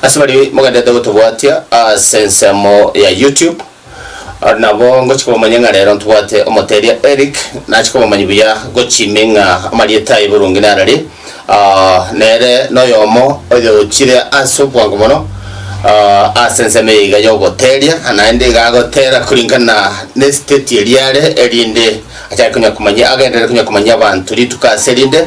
Ase baria mogenderete gotobwatia ase ensemo ya YouTube, aria nabo ngochika komomanya ng'a rero ntobwate omoteria Eric, nachia komomanya buya gochimi ng'a amarieta aye boronge nararie. Nere noyomo oyochire ase obwango mono ase ensemo eye iga y'ogoteria, naende iga agotera kuringana n'esiteti eria are, erinde achake konya komanyia, agenderere konya komanyia abanto rituko ase erinde.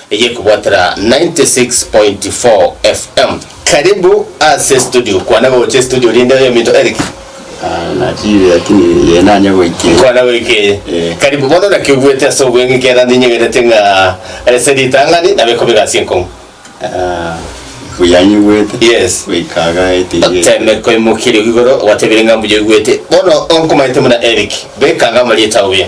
Eyekobwatera 96.4 FM. Karibu ase studio. Kwana gocha studio rinde oyo minto Eric. Ah, nachiire lakini ye nanye goikia. Kwana goika eye. Eh. Karibu bono naki obuete ase obweng'e kera ndinyegerete ng'a ase ritang'ani nabe kobe egasi enkong'u. Ah, buya nyigwete. Yes. Goika aga etingi. Oteme koimokia rigo igoro gwatebire ng'a mbuya oigwete. Bono onkomaete buna Eric. Beka ng'a amarioto ao buya.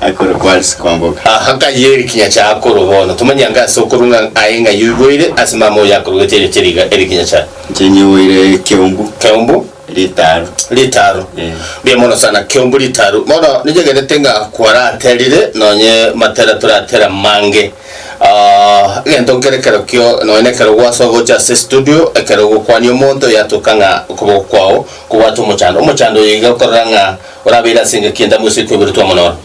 Akoro kwari sikongoka. Aha nkayi eri kinyacha akoro bono. Tomanya ng'a ase okorwa ng'a aye ng'a yoiboire ase mama oyo akorogete erio chiriga eri kinyacha. Chenyiboire keumbu. Keumbu. Ritaaro. Ritaaro. Mbuya mono sana keumbu ritaaro. Bono nichegenete ng'a kwaraterire nonye matera toratera mange. Egento nkere ekero kio nonye nekero gwasoa gocha ase estudio ekero ogokwania omonto yatoka ng'a okoboko kwao kobwate omochando. Omochando oyo iga okorora ng'a. Orabeire ase engaki enda mwese ekweberetwe amo noro.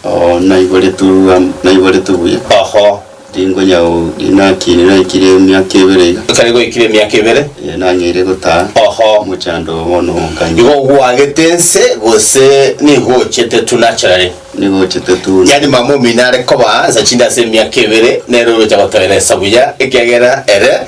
Oo, naiboretwe am, naiboretwe buya. Oho. Ringo nyau rinakire, naikire emiaka ebere iga. Ekero goikire emiaka ebere. Ee, nang'eire gotaa. Oho. Mochando oo bono onkanye. Igo ogwagete ense, gose nigo ochete tu naturally? Nigo ochete tu. Yaani mama omino are koba nsa chinde ase emiaka ebere, nere oroche gotoera esabu ya, ekiagera ere.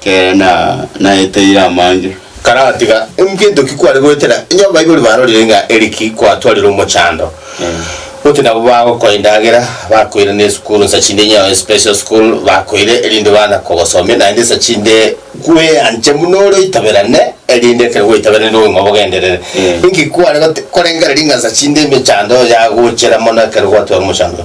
Kere na naeteire amange. Karatiga engento ki kware goetera? Onye abaibori barorire ng'a eri ki kwatwarire omochando, gotyo nabo bagokoa endagera, bakoirana esukuru nsa chinde onye yabaire special school, bakoira erinde baana kogosomia naende nsa chinde kweanche buna ore oitaberane erinde ekero gwaitaberane rinde obogima bogenderere. Inki kware gote korengereria ng'a nsa chinde emechando yagochera mono ekero gwatwara omochando?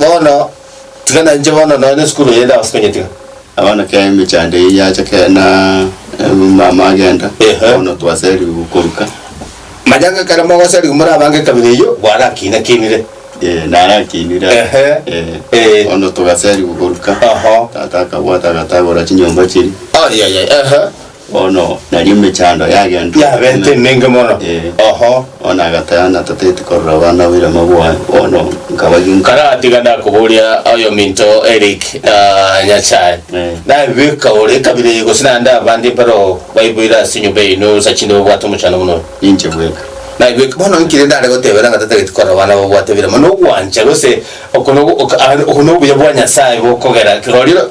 Bono, tiga nainche bono nonya nesukuru eye ndabase konyetiga. Na bono ekero emechando eye yacha kera na omomama agenda, Ehe. bono twaserigwe koruka. Manya ng'a ekero mogoserigwa more abange ekabira eyio, gwarakiinakiinire. Eh, narakiinire. Ehe. Eh. Eh. Bono togaserigwa koruka. Oho. Tata akabwata agatagora chinyomba chiria. Ayayaya, ehe. Bono nario emechando yagento. Yabete emenge mono. Eh. Oho. Bono agateba, Natateti korora abana oboirema bwaye, bono nkabagi nka. Karatiga nakoboria aye ominto Eric na Nyasae. Eh. Nabibeka ore ekabira eye gose naende abande mpero baiboire ase enyomba yaino nsa chinde babwate omochando buna oyo? Ninche bweka. Nabibeka. Bono inki rende are gotebera ng'a tatageti korora abana babwate ebiirema? Nogwancha gose oko nogo ok, ah, oko nobuya bwa Nyasae bokogera kegoriro?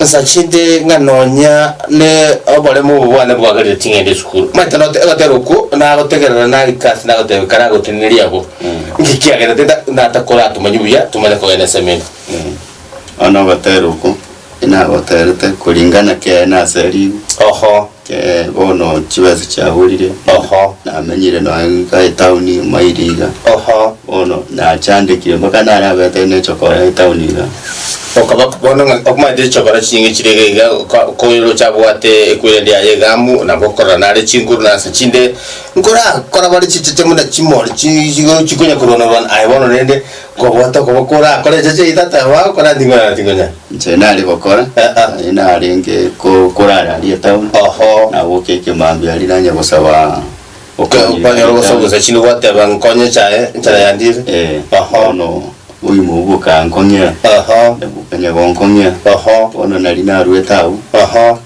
Asachete ng'a nonya n'oboremu obo bwane bwagareire ching'ende esukuru, omanyete not- egotera okwo nagotegerera nagike ase nagoteba ekero agotenenirie abwo, inki kiagerete nta- natakore atomanye buya tomanye kogenda eseminto. Bono ogotera okwo, inagoterete koringa na kiaye nase rigo. Oho. Ee, bono chibesa chiaborire. Oho, namenyire nonya goika etauni maili iga. Oho, bono nachandekire mpaka nare abete ne chokora etauni iga. Okaba bono ng'a okomaete chokora chinge chire iga iga, oka- okooroche abwate ekweri ende yaye egaamu, nabo okorora nare chinguru na nsa chinde, nkorakora bare chichache buna chimori chi chigo chikonya korwana rwana, aye bono rende, kobwate okoba korakore echache eye tata, baba okoratinkonya na tinkonya. Inche nare gokora, naye narenge ko- korara aria etown, Oho. nagoka ekemambia aria nanye gosaba okonyia Okonyora ogosa ogosa chini gwateba nkonye chaye enchara yandire. Eh, Oho. bono oimo obo okankong'ia, Oho. nabuka nyagonkong'ia, Oho. bono nari narwete agwo. Oho.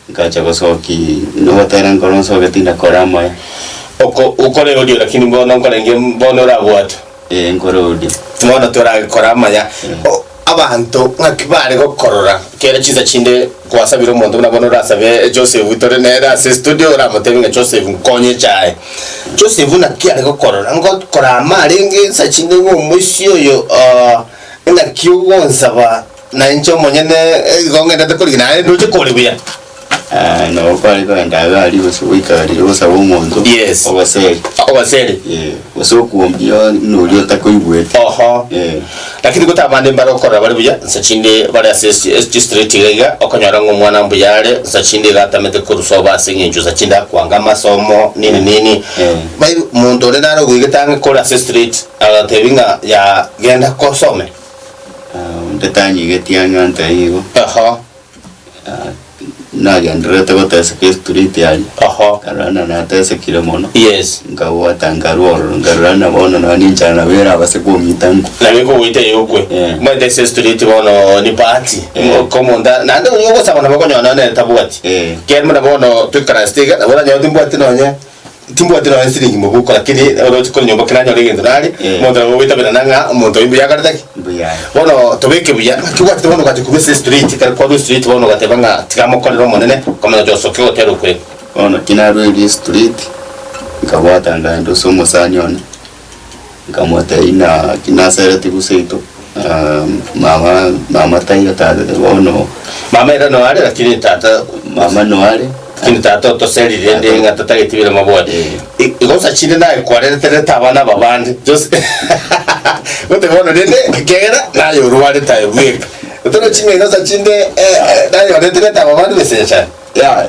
Nkacha gosoki nogotera nkoro nsoke tindakore amaya. Oko okore odio lakini bono nkorenge bono orabwate. Ee nkore odio. Bono toragekore amaya. O abanto ng'aki bare gokorora kere chinsa chinde kwasabire omonto buna bono orasabe Joseph tore nere ase estudio oramotebie ng'a Joseph nkonye echae. Joseph naki are gokorora ngokora ama arenge ensa chinde ng'a omoisia oyo oo ng'aki ogonsaba Na inche omonyene igo ng'endete korigena, naende ndoche kore buya. Ah, nabo kware kogenda iga aria gose goikaranera ogosabe omonto Yes. ogoseri Ogoseri. Eh, gose okuombia buna oria otakoigwete Oho. Eh. Lakini gotaba bande mbare gokorora bare buya, nsa chinde bare ase esi- esi chistriti iga iga, okonyora ng'a omwana mbuya are, nsa chinde iga atamete korusia obo ase eng'encho nsa chinde akwanga amasomo, nini nini. Mm. Bai monto onde nare ogoigete ang'e kore ase estriti, agotebi ng'a ya genda kosome. Ah, onde tanyigetie ang'e onte igo. Aha. Ah, nagendererete goteseka estriti aria. Aha. Nkarora ng'a natesekire mono. Yes. Nkagota nkarwa ororo, nkarora ng'a bono nonya ninchara nabo erabase komita nkwe. Nabo ekogoita eye okwe. Eh. Mwentese estriti bono ni party. Eh. Mo- komonta, naende onya ogosaba nabo okonyora nonya nere tabwati. Eh. Ekiagera buna bono, toikaransete iga, nabo oranyore timbwati nonye. Timbwati nonye siringi mobuko, lakini oroche kore nyomba kera anyore egento nare, Eh. omonto nabo ogwetabera nang'a ng'a omonto oyo mbuya akarete ki? Mbuya. Bono tobeke buya, ng'aki obwatete bono ogacha korwa ase estreet, kare kwarwa estreet bono ogateba ng'a tiga mokorere omonene, okamanya gocha osoke goteera okwegwa. Bono kinarweire estreet, nkabwata ndagenda ase omosani one, Nkamotebia naki nasereti gose seito, na mama mama taiyo tata taiyo bono. Mama ere noare lakini tata mama noare lakini tata otoserire rende Tata- ng'a tatageti bire mabwate Eh. I- igosa chinde naye kwarereterete abana aba bande just gote bono rende kegera naye orwarete aye bweka torochi ng'a igosa chinde eh, eh, naye oreterete aba bande gose inche aye. Yeah.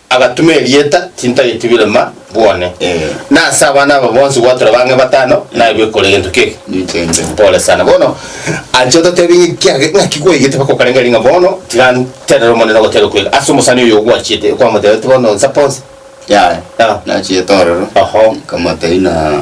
Agatuma erieta, tintageti birema bwone. Na ase abana aba bonsi gwatura bang'e batano, nairwe ekore egento keke. Pole sana. Bono, anche ototebie ng'a ekiage- ng'aki gwaigete mpaka okarengeria ng'a bono tiranterera Omonene ogoteera okwega ase omosani oyo ogwachete, okwamotebete bono nsape onsi. Yaya, Ah. nachiete ororo, Oho. nkamotebi ng'a.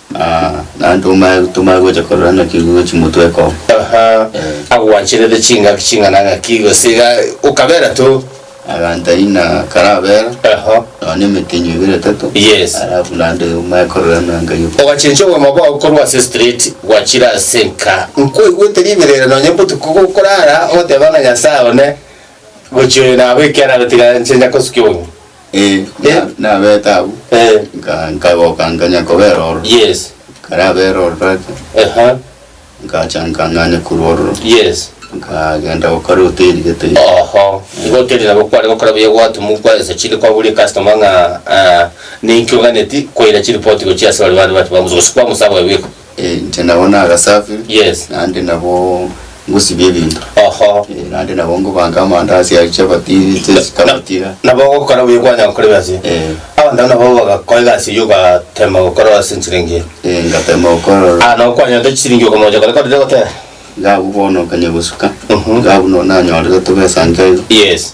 Naende tomanye tomanye gocha korora naki igo chimotweka oo. Aha agwancherete chingaki ching'ana ng'aki gose iga okabera to. Agantaina karabera. Aha. Nonya na emetenyo ibere etato. Yes. Alafu naende omanye korora ng'a Ngai ok. Ogachencha obogima bwao korwa ase street gwachire ase enka. Nkwaigwete riberera nonya botuko gokorara ogoteba ng'a Nyasae one gochia oyo nabo ekero agotiga nche nyakosukia obogima. Eh, Eh. na- nabeta abwo, Eh, nka- nkagoka nkanya kobera ororo. yes. Nkarabera ororo ake, Aha, nkacha nkang'anya korwa ororo, yes. nkagenda gokora hoteli gete. Oho, igo hoteli nabo kware gokora buya gwatumukwa ase chinde kwaburia customer ng'a ah, ninki oganeti koira chiripoti gochia ase bare bande bato bamusa gose kwamusaba wewe. Eh, inche nabo nagasafiri Yes. naende nabo ngosibia ebinto Oho. Eh, naende nabo ngobanga amandasi aye chapati chesikabatira nabo ogokora buya kwanya gokora egasi eye Eh. abanto abwo nabo bagakora egasi eye ogatema gokora ase enchiringi eye Eh, ngatema gokora ah nabo kwanyora chiringi okomocha kore korire gotera ngabu bono okanya gosuka Mhm. ngabu no nanyorire tobesa nkaiga yes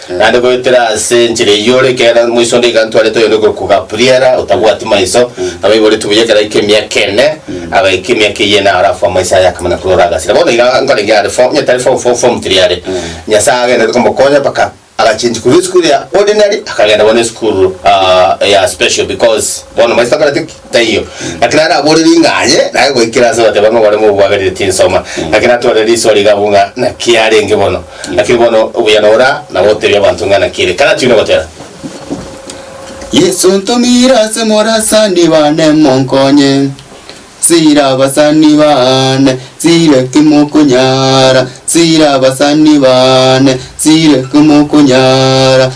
Naende goetera ase enchera eyio ore ekeene ore moiso onde iga ntwarete oyonde kokugapriera otabwati maiso, nabo oiboretwe buya ekero aike emiaka ene, agaika emiaka eyio ene arafo amaiso aye akamana korwa ore agasira. Bono iga nkorenge are fo, onye tari fo fo form tiri are. Nyasaye agenderete komokonya mpaka agachengi korwa esukuru ya ordinary akagenda bono esukuru ah ya special because bono maiso takoreti ki? Taiyo. Lakini araboorere ing'a aye, naye goikera ase abateba ng'a baremo obwagareria tinsoma. Lakini natware risoa riga abwo ng'a naki arenge bono. Lakini bono obuya nora, na gotebia abanto ng'a naki ere. Karati buna gotera. Yesu ntomire ase morasani bane monkonye sira abasani bane sire kimokonyara sira abasani bane sire kimokonyara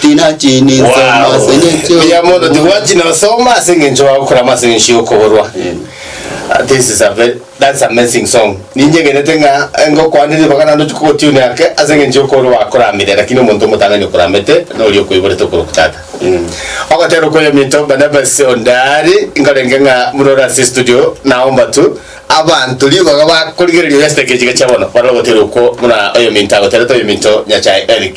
Tinachi ninsoma Wow. ase engencho Buya mono tibwati nosoma ase engencho bagokora ama ase engencho yokoborwa. Ah, This is a very, that's amazing song. Ninyegenete ng'a engokoanire ribaga naende ochi kogotune ake ase engencho yokoborwa bakoramire lakini omonto omotang'ani okoramete noria okoiborete okorokwa tata. Ogotera okoyominto Barnabas Ondari nkorenge ng'a buna ore ase estudio naomba tu abanto ribaga bakorigereria oyasete ekechiika chia bono barore ogotera okwo buna oyominto agoterete oyominto Nyachae Eric.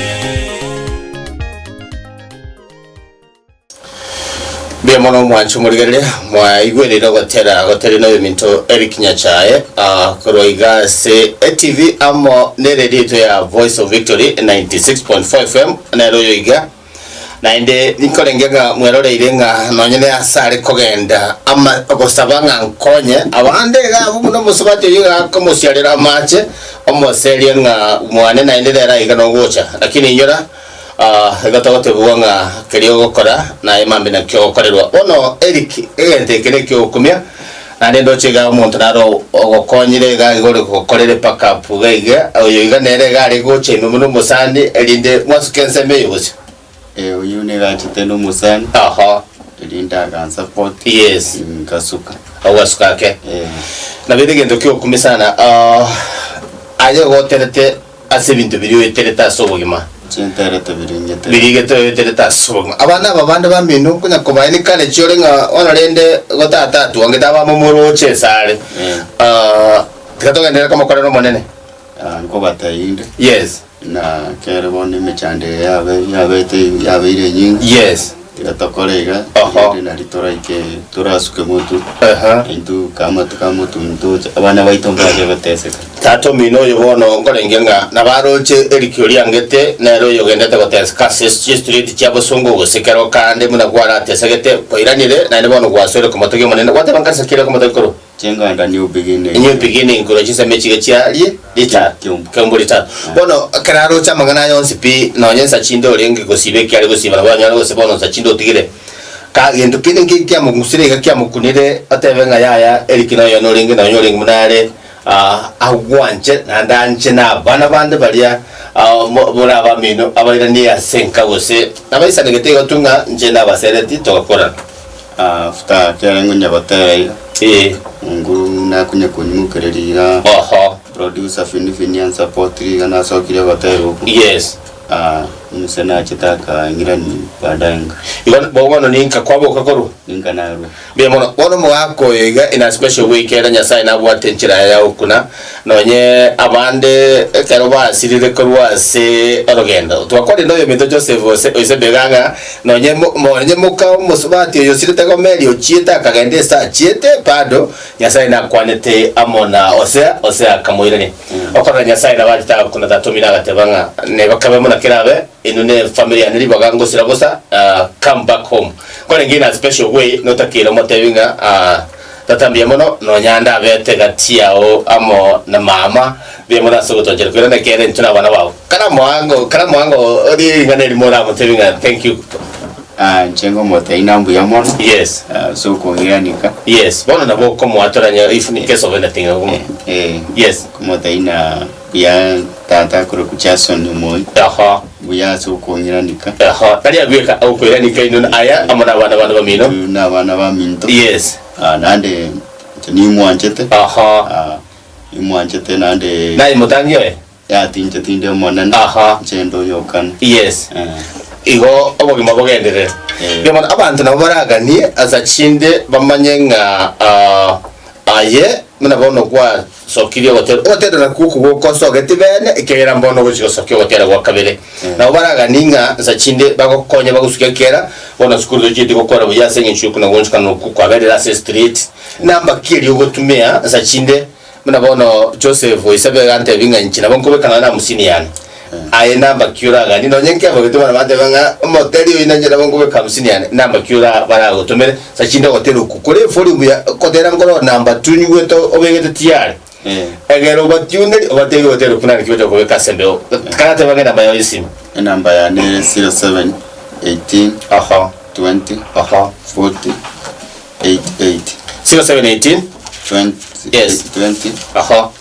Mbuya mono mwancho morigerere mwaigwereire ogotera gotere na eminto Eric Nyachae ah, korwa iga ase ATV amo ne radio eto ya Voice of Victory 96.4 FM nero oyo iga naende nikorenge ng'a mweroreire ng'a nonye ne ase are kogenda ama gosaba ng'a nkonye abande iga abwo buna omosabato oyo iga akomosiarera amache Omoserie ng'a mwane naende nere aiga nogocha, lakini inyora, ah, igo togotebigwa ng'a keria ogokora naye mambi nakio ogokorerwa. Bono Eric, egento eke neki'ogokumia, naende ndoche igaa omonto naro ogokonyire igaa iga ore gokorere pack up iga iga, oyo iga nere iga are gocha ime buna omosani, erinde mwasuke ensemo eye bosio. Eh, oyio negachete nomosani, Aha. erinde agansa koti. Yes. Ngasuka. Ogasuka ake. Eh. Nabeire egento kiokumia sana ah, aye goterete ase ebinto biria oeterete ase obogima Chinterete biringete. birigete oeterete ase obogima abana aba bande bamino okonya kobae ni kare chiore ng'a bono rende igo tata atwangete abamomoroche esare Eh. ah, tiga togenderere komokorera omonene Ah, nkobatebia inde. Yes. Na kere bono emechando eye yabe, yabete, yabeire enyinge, Yes. tiga tokore iga, Oho. erinde nari toraike, torasuke motu, Aha. intwe ka amatu ka motu ntoche, abana baito mbache goteseka. Tata omino oyo bono nkorengia ng'a nabaroche erikio riangete nere oyogendete goteseka ase chistriti chia bosongo gose ekero kande buna gwaratesegete, kwaira nire, naende bono gwasoire komotogia Omonene, gwateba nkansa ki ere komotogia korwa? Chenganda new beginning. New beginning korwa chinsemo echiga chiarie rita Kiombo. kiombo ritato. Bono ekero aroche amang'ana aya onsi pi, nonye nsa chinde orenge gosiba eki are gosiba, nabo anyare gose bono nsa chinde otigire. Ka gento kende nki kiamogusire iga kiamokunire otebe ng'a yaya Eric noyo one orenge nonye orenge buna are ah, agwanche naende anche na abana bande baria ah, mo- more abamino abairani ase enka gose nabaisanegete igo tu ng'a inche nabasereti togakorana. After kiagera ngonya gotera iga. Eeh. Mungu nakunye kunyimukereria iga. Oho. Producer Fini Fini and support iga nasokire gotera oku. Yes. Ah omuse nachete akaing'irani baadaye nka. Igo bo bono ninka kwaboka korwa. Ninka narwa. Mbuya mono. Bono omogaka oyo iga in a special way kere Nyasaye nabwate enchera yaye ya gokuna. Nonye abande ekero basirire korwa ase orogendo, twakorenda oyominto Joseph ose oisebega ng'a nonye nonye moka omosubati oyosirete Gomeri ochiete akagenda ase achiete bado Nyasae nakwanete amo na Hosea, Hosea akamoirania, Okorora Nyasae nabo anchete agokunda tata omino agateba ng'a neba kebe buna kerabe, inwe ne family yane ribaga ngosira bosa, come back home. Korende in a special way notakire omotebi ng'a. Tata mbuya mono, nonya ndabete gati yao amo na mama, mbuya mono ase ogotochera, korende ekeene intwe nabana bao. Kare amoango, kare amoango orie ring'ana erimo oramotebi ng'a thank you. Ah, inche ngomoteina mbuya mono. Yes. Ah, ase okogianika. Yes, bono nabo okomoatora onye if in case of anything. Eh, eh. Yes. Ngomoteina. Mbuya tata akorokwa Jason omoyo. Eho. Mbuya ase okoiranika. Eho. Tari agweka agokoiranika inwe na aya amo nabana bane bamino. Intwe nabana baminto. Yes. Ah nande inche nimwanchete. Eho. Ah nimwanchete nande. Naye motangi oye. Yatinche tinde omonene. Eho. Inche ndoyokana. Yes. Eh. Igo obogima bogenderere. Eh. Riomana abanto nabo baraganie asa chinde bamanye ng'a ah aye buna bono kwa. sokirie ogotera ogotenena kw'okoboko osogeti bene, ekiagera mbono ogochia gosokia ogotera gwa kabere. Nabo baraganie ng'a nsachi inde bagokonye bagosuke ekiera, bono sukuru tochieti gokora buya ase engencho y'okunogwenchokana okwo kwaberire ase estriet. Nambaki erio ogotumia nsachi inde, buna bono Joseph oisabe gantebie ng'a inche nabo nkobeka nonya na amusini yane. Aye nambaki oraganie nonye nkegogete bono bateba ng'a omoteri oyi nanche nabo nkobeka hamsini yane, nambaki ora baragotomere sa chinde ogotera okwo. Kore efori mbuya kotera nkoroo namba tunyugwete obegete tiyare, egera obatiunderi obatebie gotera okwo nare ki bachaka kobeka ase embeo. Karatebe ng'a enamba yao y'esimu. Enamba yane ere 07 18 Oho. 20 Oho. 40 88. 07 18 Twen Yes. 20 Oho.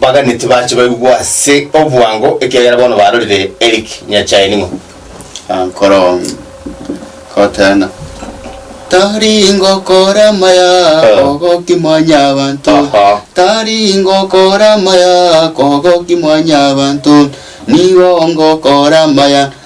Baganeti bache baigwe ase obwango, ekiagera bono barorire Eric Nyachae ning'o? Nkorong kotena tari ngokora amaya kogoki mwanyabanto Aha. tari ngokora amaya kogoki mwanyabanto nigo ngokora amaya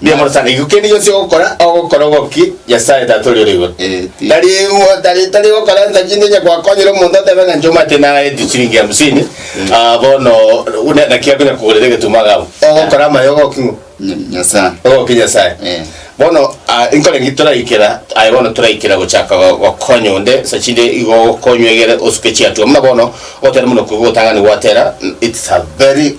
Mbuya mono sana. Iko kende gionsi ogokora, ogokora obokie Nyasae Tata oria ore igoro. Tari tari tari gokora nsa chinde onye gwakonyire omonto otebe ng'a inche omanyete naetie chiringi hamsini, ah, bono ne- naki akonya kogorera egetumo agaba. Ogokora amaye ogoki ng'o? Nya- Nyasae. Ogoki Nyasae. Eh. Bono, ah, nkore ki toraikera aye bono toraikera gochaka go- gokonya onde nsa chinde igo okonywa egere osuke chiatua. Buna bono, ogotera buna okobua otang'ani gwatera, it's a very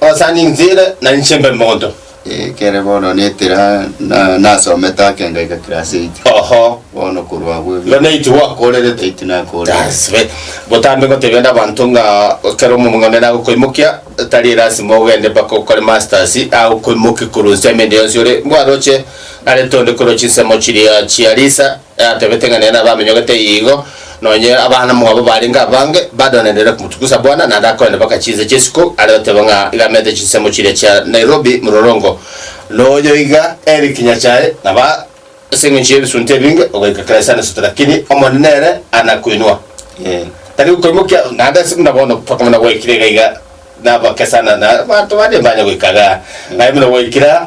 Osa ninchire na inche mbe monto. Ekere bono netira na nasomete ake ngaika class eight. Oho. Bono korwa abwo ebi. Igo n'eight gwakorerete. Eight nakorerete. That's right. Botambe ngotebia onde abanto ng'a ekero omong'onera agokoimokia, tari lasima ogende mpaka okore masters, agokoimokia korwa inse ime ende yonsi ore, mbwaroche narete onde korwa chinsemo chiria chia Lisa, Yatebete ng'a nere nabamenyogete igo, nonye abana mwabo barenge abange, badoneneire komotugusa bwana, naende akoenda baka chinse chi'esiko are oteba ng'a iga amete chinsemo chiria chia Nairobi mororongo. Noyo iga eri kinya chaye, naba ase engencho y'ebisunte ebinge ogoika kera isano isato lakini Omonene ere are na koinwa, tari gokoimokia. Naende ase buna bono tokomanya gwaikire iga iga nabake sana, na abanto bande mbanya goika iga, aye buna gwaikire aa.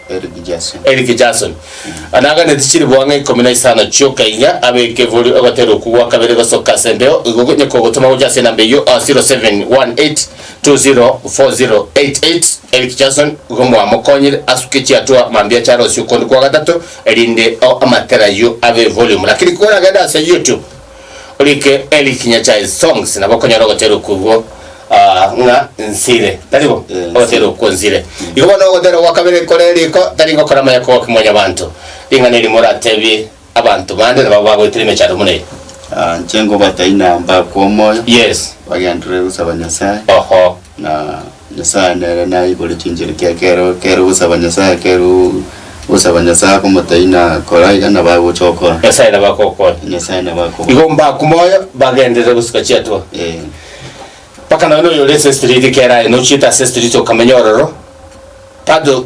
Eric Jason. Eric Jason anaganeti chiriboa ng'a ikomi na isano chi'okainya ab'ekebori ogotera okwo gwa kabere gosoka ase embeo igo onye kogotoma gocha ase enamba eyio 0718204088 Eric Jason igo mwamokonyire asuke chiatua mambia chiarosie okondi kwa gatato erinde o amatera ayio abe volume lakini koragende ase YouTube Orike Eric Nyachae Songs nabo okonyora ogoterwa okwo igwo ah, ng'a nsire. Tari bo? Eh, Ogoterwa nsire. okwo nsire. Igo bono ogoterwa gwa kabere kore riko tari gokora maya kwa ki mwanyabanto. Ring'ana eri moratebie abanto bande nababo bagoetire emechando buna eye. Ah, inche ngobatebi na mbakwa omoyo, Yes. bagenderere gosaba Nyasae, Oho. na Nyasae nere naigore chinchera kia kero kero gosaba Nyasae kero gosaba Nyasae akomotaina kora iga nabo agocha okora. Nyasae nabo akokonya. Nyasae nabo akoba. Igo mbaku moyo bagenderere gosika chiatua. Eh. Mpaka nonya noyo ore ase street kera aye nochiete ase street okamenya ororo bado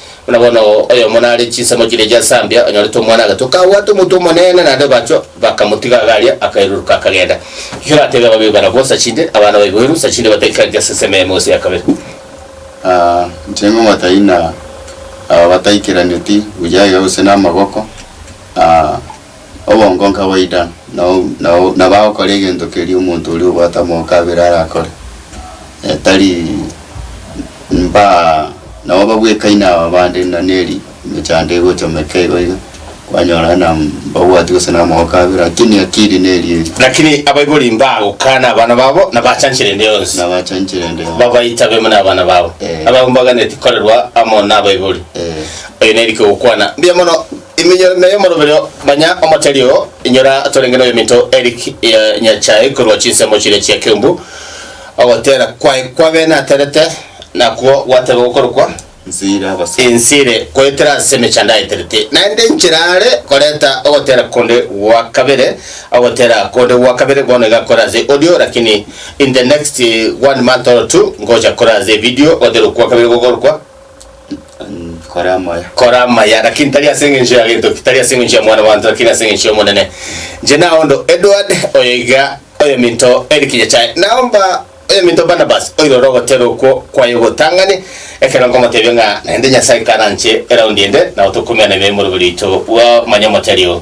Buna bono oyomo nare chinsemo chiria chia Zambia onyorete omwana agatwa, kabwate omonto omonene naende baachwa bakamotiga iga aria, akairuruka akagenda. Naki oratebe ababee bara bonsa chinde, abana baiboirwe nsa chinde bataikareti ase ensemo eyemo gose ya kabere. Aa, inche ngomataina aba bataikeraneti buya iga gose namagoko, aa. obongo nkabaidana, na o, na o, na bagokora egento keria omonto oria obwate amoko abere arakore, eh, tari mba nabo babwekaine aba bande na neri emechando egochomeka igo iga, kwanyora na mbabwati gose na amoko abere, lakini akiri neri eri. Lakini abaibori mbagokana abana babo, na bachanchera ende yonsi, Na bachanchera ende yonsi. babaita bemo na abana babo, Eh. abao mbaganeti korerwa amo nabaibori. Eh. Oyo neri kegokwana mbuya mono Iminyore na y'omorobero manya omotari oo, inyora torenge noyominto Eric ya Nyachae korwa chinsemo chiria chia Kiumbu. Ogotera kwaye kwabe naterete, nakwo gwateba gokorokwa, Ensiire koetera ase emechando aeterete, naende enchera are koreta ogotera konde gwa kabere, ogotera konde gwa kabere bono iga kore ase audio, lakini in the next one month or two ngocha kore ase video ogotera okwa kabere gokorokwa. Nkore amaya. kora amaya lakini tari ase engencho ya gento ki tari ase engencho ya mwana bwanto lakini ase engencho y'omonene inche naondo edward oyo iga oyominto eric nyachae naomba oyominto barnabas oirora ogotera okwo kwaye ogotang'ani ekero nkomotebia ng'a naende nyasae karanche eraundi ende nao tokomiana emeremo ribo rito bwa manya motari oo.